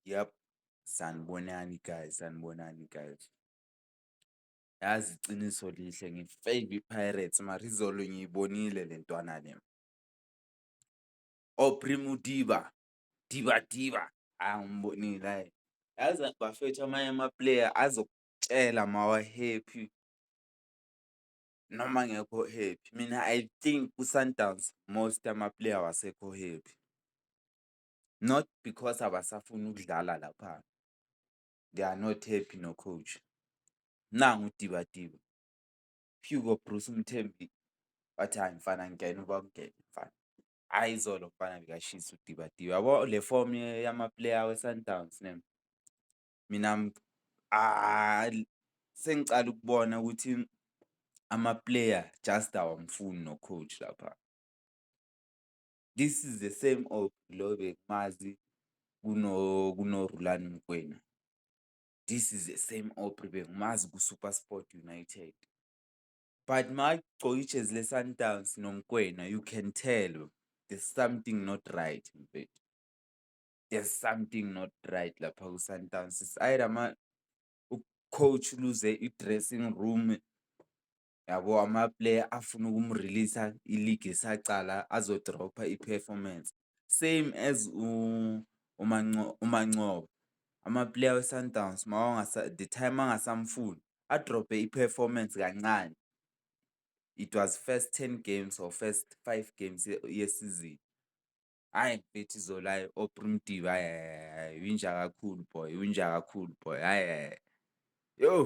Yep, sanibonani guys, sanibonani guys. Yazi iqiniso lihle ngi-fave iPirates mara izolo ngiyibonile le ntwana le. Aubrey Modiba, Diba Diba, hha ngimbonile hhayi. Yazi bafethu amanye amapuleya azokutshela uma wa-happy. noma angekho happy. Mina I think kuSundowns most amaplayer awasekho happy, not because abasafuni ukudlala lapha, they are not happy no-coach. Nangu uDibadiba, Hugo Broos umthembi wathi hhayi mfana ngena uba ungene mfana. Hhayi izolo mfana bekashisa uDibadiba yabo le fomu yamaplayer weSundowns . mina sengicala ukubona ukuthi ama-player just awamfuni no-coach lapha. This is the same old lo bekumazi kunoRulani Mokwena. This is the same Aubrey bengimazi kuSuperSport United. But makagcoka ijezi leSundowns noMokwena you can tell there's something not right mfethu. there's something not right lapha kwiSundowns. It's either ama u-coach uluze i-dressing room, yabo amaplayer afuna ukumrilisa iligi isacala azodropha i-performance. Same as uMancoba, amaplayer weSundowns the time angasamfuni adrophe i-performance kancane. It was first ten games or first five games yesizini. Hhayi mfethu izolo hhayi oPrimitivi hhayi hhayi hhayi winja kakhulu boy, winja kakhulu boy hhayi hhayi yoh.